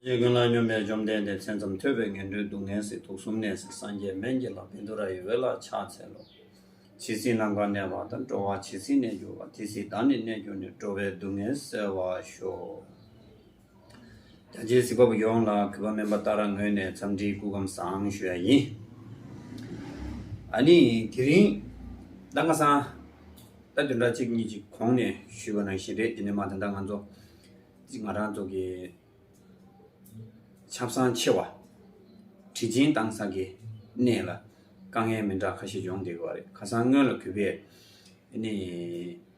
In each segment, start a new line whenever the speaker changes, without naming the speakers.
རྗེ་དགེ་ལགས་སྙོམས་པའི་བཅོམ་ལྡན་འདས་མཚན་ཙམ་ཐོས་པས་ངན་འགྲོའི་སྡུག་བསྔལ་སྲིད་དུག་གསུམ་ནད་སྲིད་སངས་རྒྱས་སྨན་གྱི་ལྷ་བིནྡུ་ར་ཡི་འོད་ལ་ཕྱག་འཚལ་ལོ། ཇི་སྲིད་ནམ་མཁར་གནས་པ་དང་འགྲོ་བ་ཇི་སྲིད་གནས་གྱུར་པ་དེ་སྲིད་བདག་ནི་གནས་གྱུར་ནས་འགྲོ་བའི་སྡུག་བསྔལ་སེལ་བར་ཤོག། རྒྱ་ཆེའི་གཟིགས་པ་པོ་ཡོངས་ལ་གུས་པ་སྨན་པ་ལྟར་རང་ངོས་ནས་འཚམས་འདྲིའི་སྐུ་ཁམས་བཟང་ཞུ་ཡ་ཡིན། ཨ་ནི་དེ་རིང། ཟླ་ལྔ་སང། ཟླ་དུས་འདྲ་གཅིག་གཉིས་ཀྱི་གོང་ནས་ཞུས་པ་ནང་བཞིན་རེད་དེ་ནས་མ་དེ་འདྲ་ང་ཚོ། གཅིག་ང་རང་ཚོ་གི། ཆབ་སང་ཆེ་བ། དྲི་ཆེན་བཏང་ས་གི་གནས་ལ། དཀའ་ངལ་མི་འདྲ་ཁ་ཤས་བྱུང་སྡད་གི་བ་རེད་ཁ་སང་སྔོན་ལ་གུས་པས་ཨ་ནི།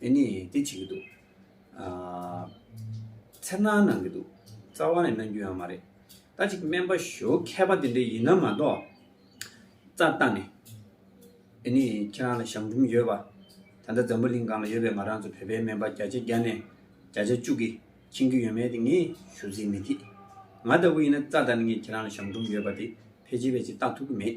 དེ་ནི་དེ་བྱེད་ཀྱི་འདུག། འཚེར་སྣང་གནང་གི་འདུག། རྩ་བ་ནས་གནང་རྒྱུ་ཡང་མ་རེད། ད་ཅིག་སྨན་པ་ཞོའུ་མཁས་པ་དེ་འདྲ་ཡིན་ན་མ་གཏོགས། རྩ་བཏང་ནས། དེ་ནི་ཁྱེད་རང་ལ་ཞང་འབྲུམ་ཡོད་པ། ད་ལྟ་འཛམ་བུ་གླིང་སྒང་ལ་ཡོད་པའི་ང་རང་ཚོ་བོད་པའི་སྨན་པ་བརྒྱ་ཆ་བརྒྱ་ནས་བརྒྱ་ཆ་བཅུ་གིས་མཁྱེན་རྒྱུ་ཡོད་མེད་དེ་ངས་ཞུ་གཟིགས་མི་ཐིག། ང་ལྟ་བུ་ཡིན་ན་རྩ་བཏང་ནས་ངས་ཁྱེད་རང་ལ་ཞང་འབྲུམ་ཡོད་པ་དེ་ཕལ་ཆེར་ཕལ་ཆེར་བཏང་ཐུབ་ཀྱི་མེད།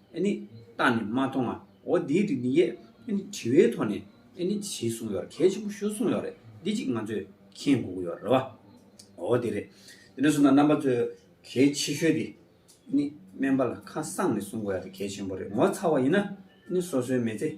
ཨེ་ནི། བརྟགས་ནས་མ་མཐོང་ང་འོ་འདིའི་རིགས་འདི་ཡས་ཨེ་ནི་དྲི་བའི་ཐོག་ནས་ཨེ་ནི་ཞེས་གསུངས་ཡོད་གལ་ཆེན་པོ་ཤོད་གསུངས་ཡོད་རེད་འདི་གཅིག་ང་ཚོས་མཁྱེན་དགོས་ཀྱི་ཡོད་རེད་བ། འོ་དེ་རེད། དེ་ནས་བཟུང་ན་རྣམ་པ་ཚོས་གལ་ཆེ་ཤོས་དེ་ཨེ་ནི་སྨན་པ་ལ་ཁ་གསངས་ནས་གསུངས་དགོས་ཡ་དེ་གལ་ཆེན་པོ་རེད་ངོ་ཚ་བ་ཡིན་ན་ཨེ་ནི་སོ་སོའི་མེ་ཚེ།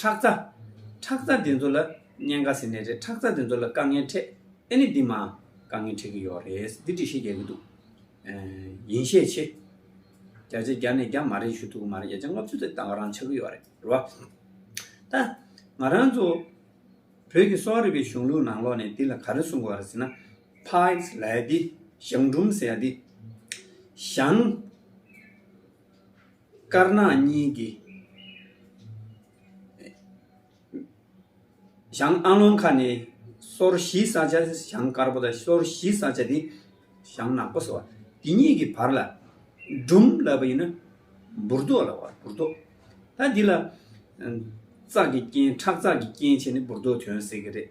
ཁྲག་རྩ། ཁྲག་རྩ་འདི་ཚོ་ལ་གཉན་ཁ་ཟེར་ནི་རེད་ཁྲག་རྩ་འདི་ཚོ་ལ་དཀའ་ངལ་འཕྲད་ཨེ་ནི་འདི་མ་དཀའ་ངལ་འཕྲད་གི་ཡོག་རེད་འདི་འདྲི་ཤེས་རྒྱག་གི་འདུག་ཡིན་ཤས་ཆེ་རྒྱ་ཆེ་རྒྱ་ནས་རྒྱ་མ་རེད་ཞུ་ཐུབ་གི་མ་རེད་རྒྱ་ཆེ་ལྔ་བཅུ་ཚོད་ལྟ་བ་རང་ཆགས་གི་ཡོག་རེད་རེད་བ། ད་ང་རང་ཚོ་བོད་ཀྱི་གསོ་བ་རིག་པའི་གཞུང་ལུགས་ནང་ལོག་ནས་འདི་ལ་ག་རེ་གསུང་དགོས་རེད་ཟེར་ན Pipes ལ་ཡ་འདི་ཞང་འབྲུམ་ཟེར་ཡ་འདི་ཞང། དཀར་ནག་གཉིས་ཀྱི་ཞང་ཨ་ལོང་ཁ་ནས་སོར་བཞིའི་ས་ཆ་ཞང་དཀར་པོ་དང་སོར་བཞིའི་ས་ཆ་དེ་ཞང་ནག་པོ་ཟེར་བ་དེ་གཉིས་ཀྱི་བར་ལ་སྦྲུམ་ལབ་པ་ཡིན་ན་འབུར་རྡོ་ལབ་བར་འབུར་རྡོ། ད་འདི་ལ། ཙག་གི་རྐྱེན་ཁྲག་ཙག་གི་རྐྱེན་བྱས་ནས་འབུར་རྡོ་དོན་ཟེར་གྱི་རེད།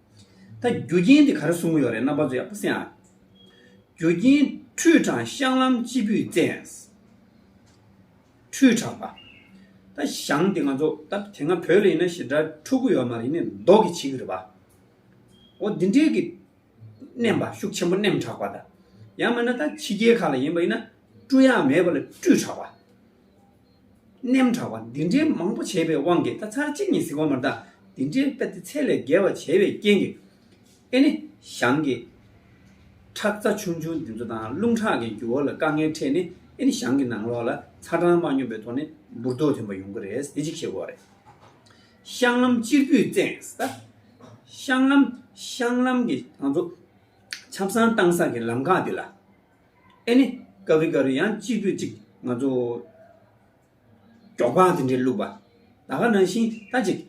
ད་རྒྱུ་རྐྱེན་དེ་ག་རེ་གསུང་གི་ཡོད་རེད་རྣམ་པ་ཚོ་ཡག་པོ་སེང་ཨ། རྒྱུ་རྐྱེན་ཁྲུས་གྲང་བཤང་ལམ་སྤྱི་བུས་བཙན། ཁྲུས་གྲང་པ། ད་བཤང་དེ་ང་ཚོ་ད་དེ་སྔ་བོད་ལ་ཡིན་ན་ཞེ་དྲག་འཁྲུག་གི་ཡོད་མ་རེད་ནི་མདོག་གི་བྱེད་གི་རེད་པ། འོ་འདི་འདྲའི་གི་མནན་པ་ཤུགས་ཆེན་པོ་མནན་དྲག་པ་ད། ཡང་མིན་ན་ད་ཕྱི་རྒྱལ་ཁག་ལ་ཡིན་པ་ཡིན་ན་བཀྲུ་ཡག་མེད་པ་ལ་བཀྲུས་དྲག་པ། རྣེམ་དྲག་པ་འདི་འདྲའི་མང་པོ་བྱས་པའི་དབང་གིས་ད་ཚར་གཅིག་གཉིས་གཟིགས་པ་མ་གཏག་འདི་འདྲའི་ལྟ་སྟེ་ཚད་ལས་བརྒལ་བ་བྱས་པའི་རྐྱེན་གྱིས། ཨེ་ནི། ཞང་གི། ཁྲག་རྩ་ཆུང་ཆུང་འདི་ཚོ་དང་རླུང་ཁྲག་གི་རྒྱུ་བ་ལ་དཀའ་ངལ་འཕྲད་ནས་ཨེ་ནི་ཞང་གི་ནང་ལོགས་ལ་ཚ་གྲང་མ་སྙོམས་པའི་ཐོག་ནས་འབུར་རྡོ་ཐོན་པ་ཡོང་གི་རེད་དེ་གཅིག་ཤེས་དགོས་བ་རེད། ཤང་ལམ་གཅེར་བུས་བཙན་ད། ཤང་ལམ། ཤང་ལམ་གྱི་ང་ཚོ་ཆབ་སྲང་བཏང་ས་གི་ལམ་ཁག་འདི་ལ། ཨེ་ནི། ཀ་བི་ཀ་རུ་ཡང་སྤྱིར་བོད་ཅིག་ང་ཚོ། འབྲོག་པ་དེ་འདྲའི་བླུགས་པ། ད་ག་ནང་བཞིན་ད་ཅིག།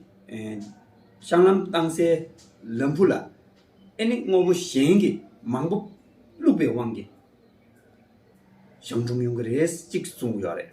བཤང་ལམ་བཏང་སའི་ལམ་བུ་ལ། ཨེ་ནི་དངོས་པོ་གཞན་གྱི་མང་པོ་བླུགས་པའི་དབང་གིས། བཤང་ཁྲོམ་ཡོང་གི་རེད་ཅིག་གསུངས་ཀྱི་ཡོད་རེད།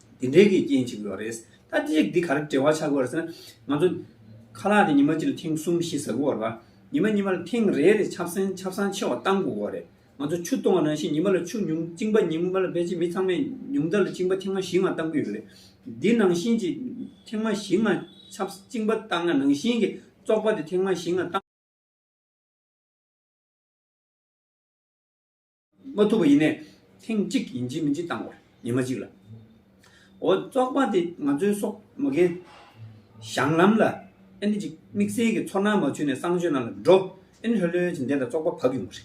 དེ་འདྲའི་གི་རྐྱེན་ཅིག་ཡོད་རེད། ད་ལྟ་ཅིག་འདི་ག་རེ་བྲེལ་བ་ཆགས་དགོས་རེད་ཟེར་ན། ང་ཚོ། ཁ་ལག་དེ་ཉི་མ་གཅིག་ལ་ཐེངས་གསུམ་བཞི་ཟ་དགོས་རེད་བ། ཉི་མ་གཉིས་མ་ལ་ཐེངས་རེ་རེ་ཆབ་སྲན་ཆབ་སྲང་ཆེ་བ་བཏང་དགོས་དགོས་རེད། ང་ཚོ་ཆུ་གཏོང་བ་ནང་བཞིན་ཉི་མ་ལ་ཆུ་ཉུང་བཅིང་པ་ཉིན་མོ་ལ་བེད་སྤྱད་མི་ཚང་མས་ཉུང་མཐར་ལ་བཅིང་པ་ཐེངས་མ་བཞི་ལྔ་བཏང་གི་ཡོད་རེད། འདི་ནང་བཞིན་གྱི། ཐེངས་མ་བཞི་ལྔ་ཆབ་བཅིང་པ་བཏང་ན་ནང་བཞིན་གྱི་བཙོག་པ་དེ་ཐེངས་མ་བཞི་ལྔ་བཏང། མ་ཐུབ་པ་ཡིན་ནས་ཐེངས་གཅིག་ཡིན་གཅིག་མིན་གཅིག་བཏང་བར་ཉི་མ་གཅིག་ལ། འོ་བཙོག་པ་དེ་ང་ཚོའི་སོག་མ་རྒན་བཞང་ལམ་ལ་ཨེ་འདི་ཅིག་དམིགས་བསལ་གྱི་ཚོར་སྣང་མ་ཆུད་ནས་གསང་སྤྱོད་རྣམས་ལ་འགྲོ་ཨེ་འདི་ལྷོད་ལྷོད་ཀྱིས་འདས་ད་བཙོག་པ་བབས་ཡོང་གི་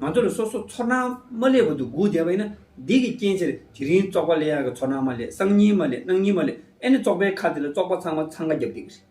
རེད། ང་ཚོ་ལ་སོ་སོ་ཚོར་སྣང་མ་བསླེས་བར་དུ་སྒུག་བསྡད་པ་ཡིན་ན་འདི་གི་རྐྱེན་ཕྱིར་དེ་རིང་བཙོག་པ་བསླེ་ཡག་གི་ཚོར་སྣང་མ་བསླེས་གསང་སྙིང་མ་བསླེས་གནང་སྙིང་མ་བསླེས་ཨེ་འདི་བཙོག་པའི་ཁ་དེ་ལ་བཙོག་པ་ཚང་མ་འཚང་ཁ་རྒྱབ་བསྡད་ཀྱི་རེད།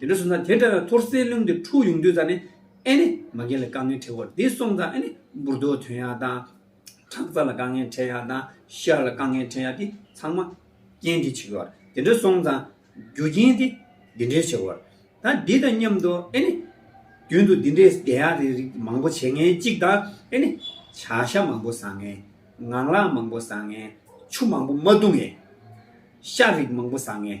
དེ་འདྲ་བྱུང་ཙང་དེ་འདྲ་བའི་ཐོར་སེལ་རླུང་དེ་འཁྲུགས་ཡོང་དུས་ཙང་ནི་ཨེ་ནི་མ་རྒན་ལ་དཀའ་ངལ་འཕྲད་གོ་འདི་སོང་ཙང་ཨེ་ནི་འབུར་རྡོ་ཐོན་ཡག་དང། ཁྲག་རྩ་ལ་དཀའ་ངལ་འཕྲད་ཡག་དང་ཤར་ལ་དཀའ་ངལ་འཕྲད་ཡག་འདི་ཚང་མ་རྐྱེན་འདི་བྱེད་ཀྱི་བར་དེ་འདྲ་སོང་ཙང་རྒྱུ་རྐྱེན་དེ་འདི་འདྲས་བྱེད་བར་ད་འདི་དང་མཉམ་དུ་ཨེ་ནི། རྒྱུན་དུ་འདི་འདྲས་བསྡད་ཡག་རེད་རིགས་མང་པོ་བྱེད་ངན་གཅིག་དང་ཨེ་ནི། བྱ་ཤ་མང་པོ་བཟའ་ངན། ངང་ལག་མང་པོ་བཟའ་ངན། ཆུ་མང་པོ་མ་བཏུང་ངན། ཤ་རིགས་མང་པོ་བཟའ་ངན།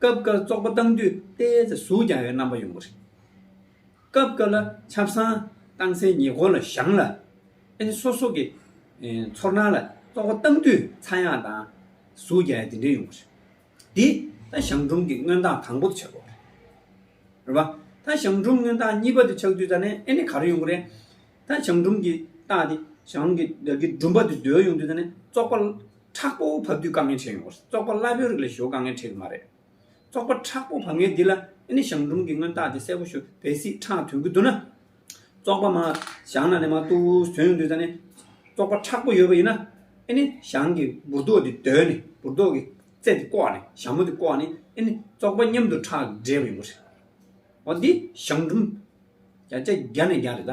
སྐབས་འགར་བཙོག་པ་བཏང་དུས་རྟའི་རྩེ་ཟུག་ཀྱང་ཡོད་རྣམ་པ་ཡོང་གི་རེད། སྐབས་འགར་ལ་ཆབ་གསང་བཏང་སའི་ཉེ་འཁོར་ལ་བཞག་ལ། ཨེན་སོ་སོ་གི་ཚོར་སྣང་ལ་བཙོག་པ་བཏང་དུས་ཚ་ཡང་དང་ཟུག་ཀྱང་ཡང་དེ་འདྲའི་ཡོང་གི་རེད། འདི་ད་ཞང་སྒྲོམ་གྱི་སྔོན་བཏང་དང་པོ་དུ་ཆགས་དགོས་རེད། རེད་བ། ད་ཞང་སྒྲོམ་སྔོན་བཏང་གཉིས་པ་དུ་ཆགས་དུས་ད་ནི་ཨེ་ནི་ག་རེ་ཡོང་གི་རེད། ད་ཞང་སྒྲོམ་གྱི་རྟ་དེ་ཞང་གི་སྒྲོམ་པ་དུ་སྡོད་ཡོང་དུས་ད་ནི་བཙོག་པ་དྲག་པོ་བབས་དུས་དཀའ་ངལ་ཆེ་ཡོང་བར་བཙོག་པ་སླ་པོའི་རིགས་ལ་ཞོ་དཀའ་ངལ་འཕྲད་གི་མ་རེད། བཙོག་པ་དྲག་པོ་བབས་ངེས་འདི་ལ་ཨེ་ནི་ཞང་ཀྲུང་གིས་སྔོན་བརྟག་དེ་གསལ་པོ་ཞུ་བས་སྲིད་ཁྲག་དོན་གྱི་འདུག་ན། བཙོག་པ་མ་ཞང་ན་ནས་མ་ཏུ་ཟོན་དུས་ད་ནི་བཙོག་པ་དྲག་པོ་ཡོད་པ་ཡིན་ན། ཨེ་ནི་ཞང་གིས་འབུར་རྡོ་དེ་རྡོལ་ནས་འབུར་རྡོ་གི་རྩེ་དེ་བཀོག་ནས་ཞྭ་མོ་དེ་བཀོག་ནས་ཨེ་ནི་བཙོག་པ་མཉམ་དུ་ཁྲག་འདྲེས་པ་ཡིན་པ་རེད། འོ་འདི་ཞང་ཀྲུང། རྒྱ་ཆ་རྒྱ་ནས་རྒྱ་རེད་ད།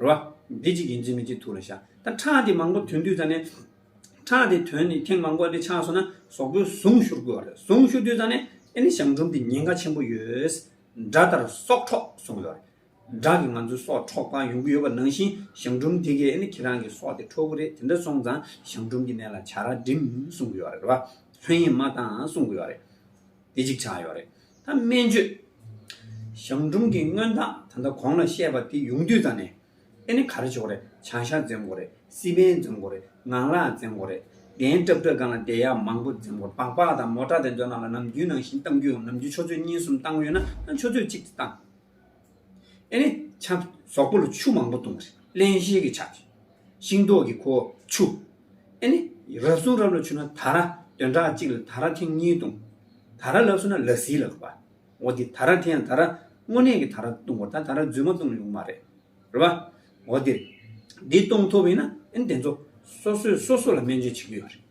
རེད་བ། འདི་གཅིག་ཡིན་གཅིག་མིན་གཅིག་ཐུགས་ལ་བཞག་ད་ཁྲག་དེ་མང་པོ་དོན་དུས་ད་ནི། ཁྲག་དེ་དོན་ནི་ཐེངས་མང་པོ་དེ་ཆགས་སོང་ན་ཟོག་པོའི་གཟུངས་ཤུར་དགོས་བ་རེད་གཟུངས་ཤུར་དུས་ད་ནི་ཨེ་ནི་གཞང་འབྲུམ་དེ་ཉེན་ཁ་ཆེན་པོ་ཡོད། དགྲ་ལྟར་སྲོག་འཕྲོག་གསུངས་ཡོད་རེད། དགྲ་གིས་ང་ཚོའི་སྲོག་འཕྲོག་པ་ཡོང་གི་ཡོད་པ་ནང་བཞིན་གཞང་འབྲུམ་དེ་གས་ཨེ་ནི་ཁྱེད་རང་གི་སྲོག་དེ་འཕྲོག་གི་རེད་དེ་འདྲ་སོང་ཙང་གཞང་འབྲུམ་གྱི་གནས་ལ་བྱ་ར་འགྲིམས་གསུངས་གི་ཡོད་རེད་བ། ལྷོད་གཡེང་མ་གཏང་གསུངས་གི་ཡོད་རེད། དེ་གཅིག་ཆགས་ཡོད་རེད་ད་སྨན་བཅོས། ཞང་ཀྲུང་གི་མངོན་རྟགས་ད་ལྟ་གོང་ལ་བཤད་པ་དེ་ཡོང་དུས་ད་ནས་ཨེ་ནི་ག་རེ་བྱེད་དགོས་རེད་བྱང་ཤར་འཛེམ་དགོས་རེད་སི་པན་འཛེམ་དགོས་རེད་ངང་ལག་འཛེམ་དགོས་རེད་གདན་སྐྲག་སྐྲག་སྒང་ལ་བསྡད་ཡག་མང་པོ་འཛེམ་དགོས་སྦག་སྦག་དང་མོ་ཏྲ་དེ་ཚོ་ནང་ལ་ནམ་རྒྱུན་ནང་བཞིན་གཏང་རྒྱུ་ཡོང་ནམ་རྒྱུན་ཆོས་ཚོད་གཉིས་གསུམ་གཏང་འོས་ན་ཆོས་ཚོད་གཅིག་དེ་གཏང། ཨེ་ནི། ཆབ། ཟོག་པོ་ལ་ཆུ་མང་པོ་བཏུང་བ། བརླན་བཤེར་གྱི་ཆབ། ཤིང་ཏོག་གི་ཁོ། ཆུ། ཨེ་ནི། རབ་སྲུང་རབ་ལ་ཆུ་ན་ད་ར། བདུན་ཕྲག་གཅིག་ལ་ད་ར་ཐེངས་གཉིས་བཏུང། ད་ར་ལགས་སུ་ན་ལ་སིའི་ལག་པ། འོ་དེ་ད་ར་ཐེངས་ད་ར། དངོས་གནས་ཀྱི་ད་ར་བཏུང་བར་ད་ད་ར་རྫུན་མ་བཏུང་ཡོང་མ་རེད། རེད་པ། འོ་དེ། འདི་གཏོང་ཐུབ་ཡིན་ན་ཨེ་ནི་དེ་ཚོ། སོ་སོས་སོ་སོ་ལ་སྨན་བཅོས་བྱེད་ཀྱི་ཡོད་རེད།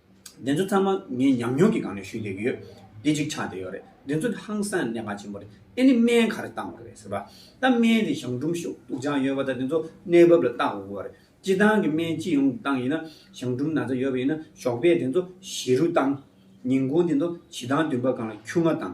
འདི་ཚོ་ཚང་མ་ངའི་ཉམས་མྱོང་གི་སྒང་ནས་ཞུས་འདོད་ཀྱི་ཡོད། འདི་ཅིག་ཆ་དེ་ཡོད་རེད། འདི་ཚོ་ནི་ཧང་སངས་ནད་པ་ཆེན་པོ་རེད། ཨེ་ནི་སྨན་ག་རེ་བཏང་བ་རེད་ཟེར་བ། ད་སྨན་དེ་གཞང་འབྲུམ་ཤུག་དུག་ཅང་ཡོད་པ་དང་དེ་ཚོ་གནས་བབ་ལ་བལྟ་དགོས་ཀྱི་བ་རེད། སྤྱི་བཏང་གི་སྨན་སྤྱི་ཡོངས་ཀྱི་བཏང་ཡིན་ན་གཞང་འབྲུམ་ན་ཚ་ཡོད་པ་ཡིན་ན་ཞོགས་པས་དེ་ཚོ་བཞི་རུ་བཏང། ཉིན་གུང་དེ་ཚོ་བྱི་ཐང་བདུན་པ་སྒང་ལ་ཁྱུ་ལྔ་བཏང།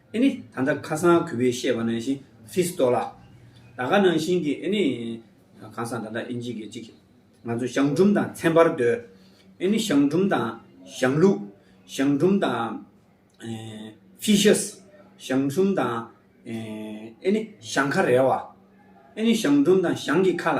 ཨེ་ནི་ད་ལྟ་ཁ་སང་གུས་པས་བཤད་པ་ནང་བཞིན་ཧྥི་སི་ཏོ་ལ། ད་ག་ནང་བཞིན་གྱི་ཨེ་ནི། ཁང་སང་ད་ལྟ་ཨིན་ཇི་གི་ཅིག། ང་ཚོ་ཞང་ཀྲུམ་དང་ཚན་པར་སྡོད། ཨེ་ནི་ཞང་ཀྲུམ་དང་ཞང་ལུགས། ཞང་ཀྲུམ་དང། ཧྥི་ཤ་སི། ཞང་ཀྲུམ་དང། ཨེ་ནི་ཞང་ཁ་རལ་བ། ཨེ་ནི་ཞང་ཀྲུམ་དང་ཞང་གི་ཁ་ལ།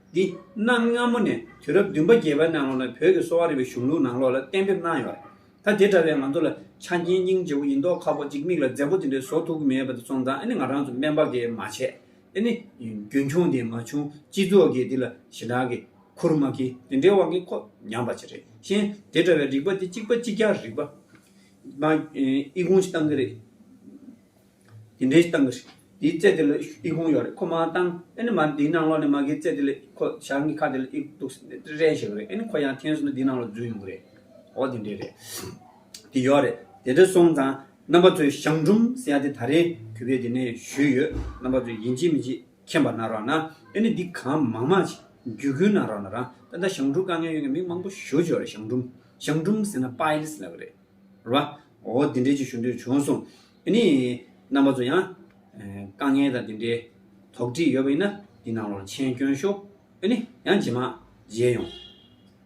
འདི་གནའ་སྔ་མོ་ནས་དུས་རབས་བདུན་པ་བརྒྱད་པའི་ནང་ལོགས་ནས་བོད་ཀྱི་གསོ་བ་རིག་པའི་གཞུང་ལུགས་ནང་ལོགས་ལ་གཏན་འབེབས་གནང་ཡོད་རེད་ད་དེ་འདྲ་བའི་ང་ཚོ་ལ་ཆ་རྐྱེན་སྙིང་རྗེ་བོ་ཡིན་མདོག་ཁ་བོ་གཅིག་མིག་ལ་མཛེས་བོ་དེ་འདྲའི་བཟོ་ཐུབ་ཀྱི་མེད་པ་དེ་ཚོང་ཙང་ཨེ་ནི་ང་རང་ཚོ་སྨན་པ་འགས་མ་བྱས་ཨེ་ནི་རྒྱུན་འཁྱོངས་དེ་མ་བྱུང་སྤྱི་ཚོགས་འགས་དེ་ལ་ཞེ་དྲག་གི་ཁུར་མ་ཁྱེར་དེ་འདྲའི་དབང་གིས་ཁོ་ཉམས་པ་ཅི་རེད་གཞན་དེ་འདྲ་བའི་རིག་པ་འདི་གཅིག་པ་གཅིག་རྒྱག་རིག་པ། ཨི་ཁུང་ཞིག་བཏང་གི་རེད། དེ་འདྲའི་སྟངས་ཀྱི་དེའི་རྩེད་དེ་ལ་ཨི་ཧུང་ཡོད་རེད་ཁོ་མ་བཏང་ཨེ་ནི་མ་འདིའི་ནང་ལོགས་ནས་མ་གིའི་རྩེད་དེ་ལ་ཁོ་ཞག་གཉིས་ཁ་དེ་ལ་ཨི་འདུག་ཟེར་ནས་རེ་བྱེད་ཀྱི་རེད་ཨེ་ནི་ཁོ་ཡང་ཐེངས་སོ་ན་འདིའི་ནང་ལོགས་འཛུལ་ཡོང་གི་རེད་འོ་དེ་འདྲའི་རེད་དེ་ཡོད་རེད་དེ་འདྲ་སོང་ཙང་རྣམ་པ་ཚོས་ཞང་ཀྲུམ་ཟེར་ཡ་དེ་ད་རེས་གུས་པས་དེ་ནས་ཞུས་ཡོད་རྣམ་པ་ཚོས་ཡིན་གཅིག་མིན་གཅིག་མཁྱེན་པ་ན་རོགས་ན་ཨེ་ནི་འདི་གང་མང་མང་ཅིག་རྒྱུད་སྐུལ་ན་རོགས་ན་རང་ད་ལྟ་ཞང་ཀྲུག་དཀའ་ངལ་ཡོད་ངེས་མིང་མང་པོ་ཞུ་བྱོས་རེད་ཞང་ཀྲུམ་ཞང་ཀྲུམ་ཟེར་ན་པཱ་ཨེ་ལིས་ལབ་གི་རེད་རེད་བ་འོ་དེ་འདྲའི་ཅིག་ཞུ་འདོད་བྱུང་སོང་དེ་ནི་རྣམ་པ་ཚོ་ཡང། དཀའ་ངལ་དང་དེ་འདྲའི་དོགས་འདྲི་ཡོད་པ་ཡིན་ན་འདི་ནང་ལོར་མཆན་བསྐྱོན་ཤོག་ཨ་ནི་ཡང་ཇེ་མང་མཇལ་ཡོང།